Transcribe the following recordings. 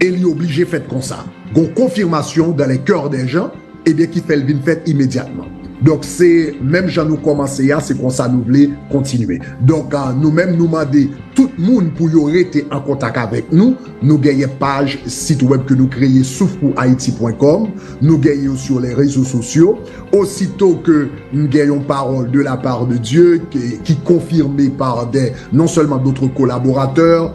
e li oblije fèt konsa. Gon konfimasyon dans les coeurs des gens ebyen ki fèl vin fèt imedyatman. Donk se menm jan nou kòmanse a se konsa nou vle kontinye. Donk nou menm nou mande tout moun pou yo rete an kontak avèk nou. Nou genyen paj sit wèb ke nou kreye souffpourhaiti pwen kòm. Nou genyen yo sur les rezo sosyo. Osito ke m gen yon paròl de la part de Dieu ke ki konfime par dè non sèlman d'autres collaborateurs,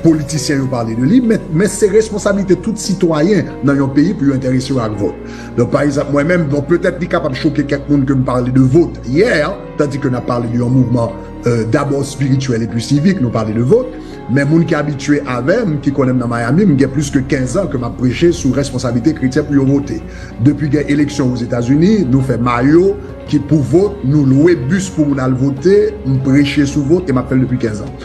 Politisyen yo pale de li, men se responsabilite tout sitwayen nan yon peyi pou yo enterese yo ak vòt. Donk, pa egzanp, mwen menm, bon, petèt li kapab choke kèk moun ke m pale de vòt yè, tandi ke n ap pale de yon mouvman dabò espirityèl epi sivik, nou pale de vòt, men moun ki abitye avè m, ki konnen m nan Miami, m gen plis ke kenz an ke m ap preche sou responsabilite kretyen pou yo vote. Depi gen eleksyon Ozetazini, nou fè mayo ki pou vòt, nou lwe bis pou moun al vote, m preche sou vòt e m ap fè l depi kenz an.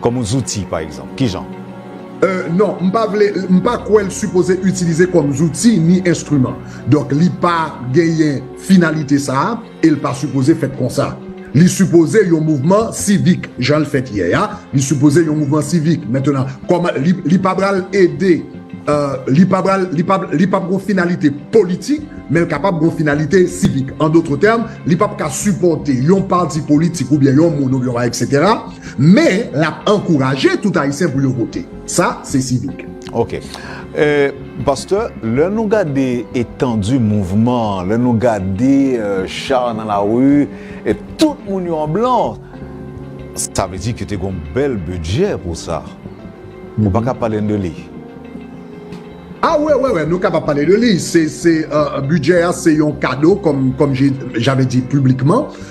Kòm yon zouti, pa egzanp. Ki jan? Euh, non, m pa vle, m pa kwè l sipoze itilize kòm zouti ni enstriman. Donk li pa genyen finalite sa a e l pa sipoze fèt konsa. Li sipoze yon mouvman sivik, jan l fèt yè a, li sipoze yon mouvman sivik. Mentenan, kòman, li, li pa pral ede, euh, li pa pral, li pa, li p ap gon finalite politik, men l kapab gon finalite sivik. An dotre tèm, li p ap ka sipòte yon pati politik oubyen yon moun oubyen yon bagay, eksetera. Men, l ap ankouraje tout Ayisyen pou yo vote. Sa, se sivik. Ok. Pastè, lè nou gade etandi mouvman an, lè nou gade cha nan lari, e tout moun yo an blan, sa vle di ke te gen yon bèl bidjè pou sa. Ou pa ka pale n de li? A wè, wè, wè, nou kapab pale de li. Se, se, bidjè a se yon kado, kòm, kòm je, j'avais dit publiquement.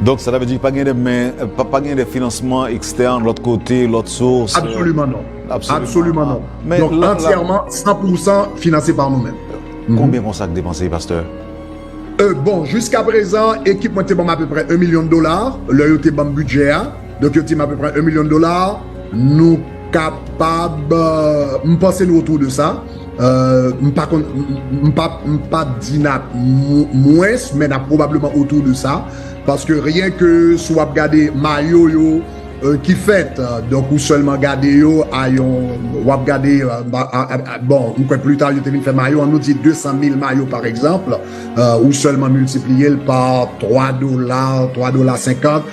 Donk sa ta vle di pa gen de men, pa gen de finansman ekstèn lòt kote, lòt sous? Absoliman non. Absoliman non. Donk antyèman, san pou san finanse pa nou menm. Konbyen konsa k depanse pastè? Bon, jiskaprezan ekip mwen te ban m apeprè 1 milyon dola lè yo te ban m bidjè a. Donk yo tim apeprè 1 million dollars nou kapab m panse nou autour de sa m pa konn m pap m pap di nap mwens men nap probablement autour de sa paske rien ke si wap gade mayo yo ki fèt donk ou sèlman gade yo a yon wap gade bon m kwè plita yo te vin fè mayo an nou di 200 mil mayo par exemple ou sèlman multipliye l par 3 dola 3 dola 50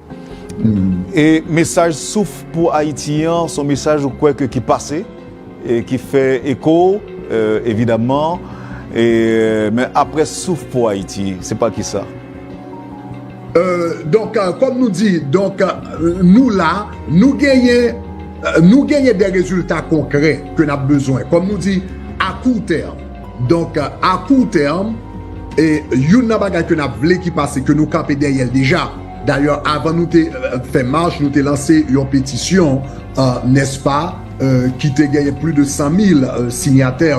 E mesaj Souf pou Ayiti an, son mesaj ou kwè ke ki pase, e ki fè eko, evidaman, e men apre Souf pou Ayiti, se pa ki sa? Donk, kòm nou di, donk, nou la, nou genyen, nou genyen de rezilta konkrè ke n ap bezwen, kòm nou di, a kou tèm. Donk, a kou tèm, e youn nan bagay ke n ap vle ki pase, ke nou kanpe dèyè l deja, Dayè avan nou te fè mach nou te lanse yon petisyon nèspa ki te genyen pli de 100 mil sinyatè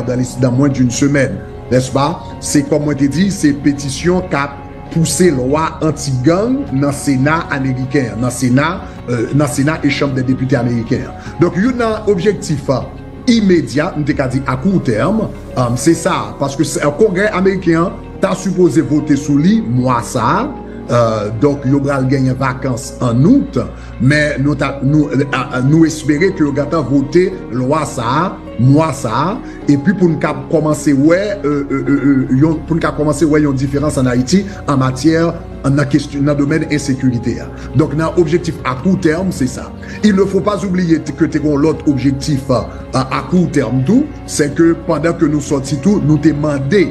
dan mwen d'une semèn nèspa. Se kòm mwen te di se petisyon kap pouse lwa anti gang nan sena ameriken an, nan sena e chanm dè depite ameriken an. Donk youn nan objektif imedya m te ka di a kou tèm se sa paske kongrè ameriken an ta sipoze vote sou li mwa sa. Donk yo pral genyen vakans an Out, men nou espere ke yo gentan vote lwa sa a mwa sa a, epi pou n ka kòmanse wè yon diferans an Ayiti an matyè nan domèn ensekirite a. Donk nan objektif a kou tèm se sa. Il ne faut pas oublier ke te gen yon lòt objektif a kou tèm tou, se ke pandan ke nou sòti tou nou te mande,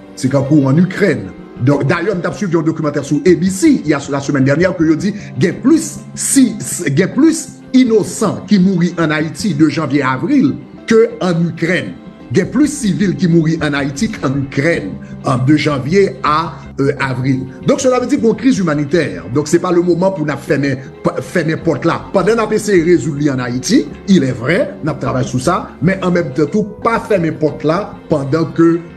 Se kankou an Ikrèn. Donk dayè m tap swiv yon dokimantè sou ABC ya la semèn dènyè ke yo di gen plis si gen plis inosan ki mouri an Ayiti de janvye a avril ke an Ikrèn. Gen plis sivil ki mouri an Ayiti k an Ikrèn an de janvye a avril. Donk sela vle di gon kriz imanitè. Donk se pa le moman pou nap fèmen fèmen pòt la pandan nap eseye rezoud li an Ayiti. Ilè vrè nap travay sou sa men an menm tan tou pa fèmen pòt la pandan ke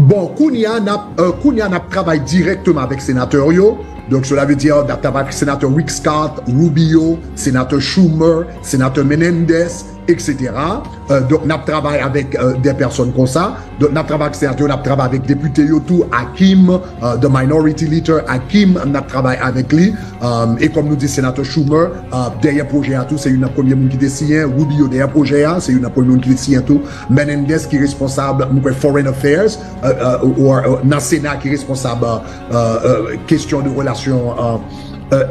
Bon, kounya nap kounya nap travay dirèkteman avèk senatè yo, donk sela ve di nap travay avèk senatè Rick Scott, Rubio, senatè Schumer, senatè Menendez, etc. Donk nap travay avèk dè pèsòn konsa, donk nap travay avèk senatè yo, nap travay avèk depite yo tou, Hakeem, the minority leader Hakeem nap travay avèk li, e kòm nou di senatè Schumer dèyè pwojè a tou, se youn nan premye moun ki te siyen, Rubio dèyè pwojè a, se youn nan premye moun ki te siyen tou. Menendez ki responsab m kwè foreign affairs or nan sena ki responsab kesyon de relasyon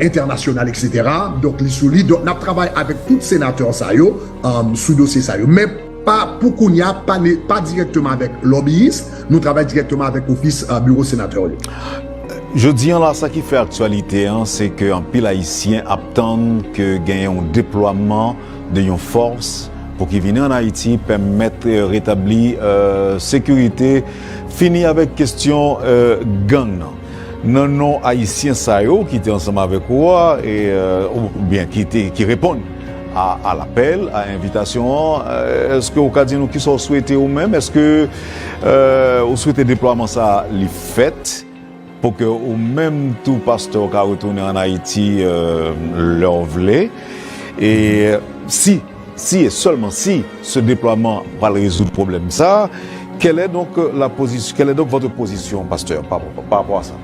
entènasyonal etc. Donk li sou li. Donk nap travay avèk tout senatè sa yo sou dosye sa yo. Men pa pou kounya pa dirèkteman avèk lòbiyis. Nou travay dirèkteman avèk ofis biwo senatè yo. Jodi an la sa ki fè aktyalite an se ke anpil ayisyen ap tann ke gen yon deplwaman de yon fòs pou ki vini an Ayiti pèmèt retabli sekirite, fini avèk kestyon gang nan. Nan non Ayisyen sa yo ki te ansanm avèk ou a, oubyen ki reponn a lapèl, a envitasyon an, èske ou ka di nou kisa ou swete ou menm? Èske ou swete deplwaman sa a li fèt? Pou ke ou menm tou pastè ou ka retounen an Ayiti lè ou vle e si, si e sèlman si se deplwaman pral rezoud pwoblèm sa, kèlè donk la pozisyon, kèlè donk vòtre pozisyon pastè pa rapò a sa?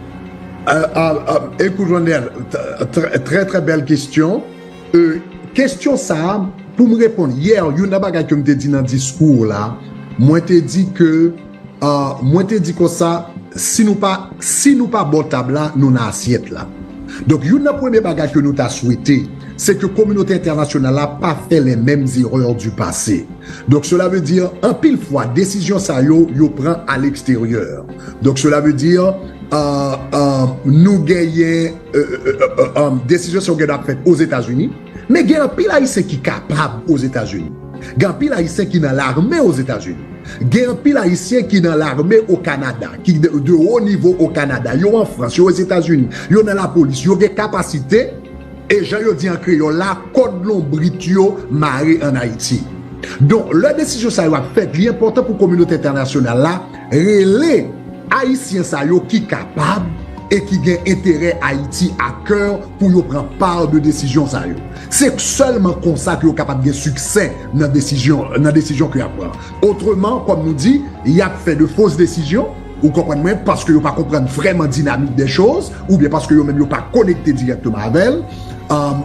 Ekout Ronel, trè trè bèl kestyon, kestyon sa pou m reponn, yè youn nan bagay ke m te di nan diskou la, mwen te di ke. Mwen te di konsa, si nou pa si nou pa bò tab la, nou nan asyèt la. Donk youn nan premye bagay ke nou ta swete, se ke kominote entènasyonal la pa fè les memes erreurs du passé. Donk sela ve di, anpil fwa desizyon sa yo, yo pran a leksteryè. Donk sela ve di, nou genyen desizyon sa yo gen dwa ap fèt Ozetazini. Men gen anpil Ayisyen ki kapab Ozetazini. Gen anpil Ayisyen ki nan lame Ozetazini. Gen anpil Ayisyen ki nan lame o Kanada, ki de wo nivo o Kanada. Yo an Frans, yo Ozetazini, yo nan lapolis. Yo gen kapasite e jan yo di an kreyòl la, kòd lonbrit yo mare an Ayiti. Donk, lè desizyon sa yo ap fèt, li enpòtan pou kominote entènasyonal la, Rele Ayisyen sa yo ki kapab e ki gen enterè Ayiti a kè pou yo pran part de desizyon sa yo. Se sèlman konsa ke yo kapab gen siksè nan desizyon nan desizyon ke yap pran. Otreman, kòm nou di, yap fè de fos desizyon, ou konprann mwen, paske yo pa konprann vrèman dinamik dè choz, oubyen paske yo menm yo pa konekte dirèkteman avèl.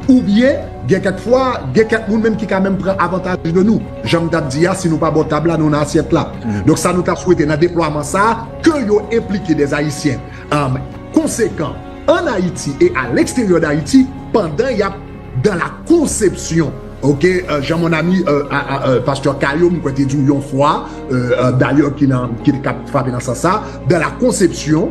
Oubyen, gen kèk fwa, gen kèk moun menm ki ka menm pran avantaj de nou. Jan m t ap di a, si nou pa bò tab la, nou nan asyèt la. Donk sa nou t ap swete nan deplwaman sa a, ke yo enplike dè Ayisyen konsekan an Ayiti e a leksteryè dAyiti pandan y ap dan la konsepsyon, oke, jan mon ami Pastè Caillot m kwè te di w yon fwa, dayè ki nan, ki t ap frape nan sans sa, dan la konsepsyon.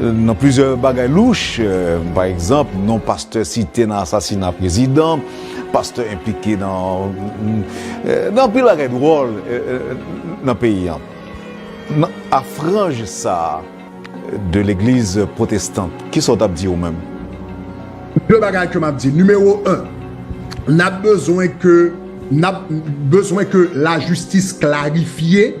Nan plizyè bagay louch, pa egzanp, non pastè site nan asasina prezidan, pastè enplike nan anpil bagay dwòl nan peyi an. A franj sa de legliz pwotestan, ki sa w t ap di ou menm? De bagay ke m ap di. Nimewo 1, n ap bezwen ke lajistis klarifye.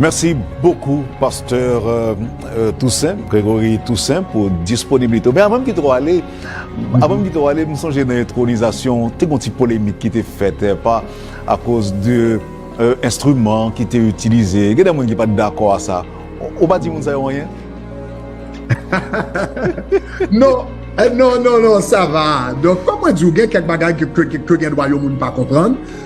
Mèsi bokou Pasteur Toussaint, Gregory Toussaint pou disponibilite ou. Men avan m kite w ale, avan m kite w ale m sonje nan entwonizasyon w te gon ti polemik ki te fèt pa akoz de enstriman ki te itilize. Gen de moun ki pa t dakò a sa. Ou pa di moun sa yo anyen? Non, non, non, non, sa va. Donk kòm mwen di w gen kèk bagay ke gen dwa yon moun pa konprann.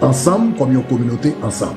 Ansanm kòm yon kominote ansanm.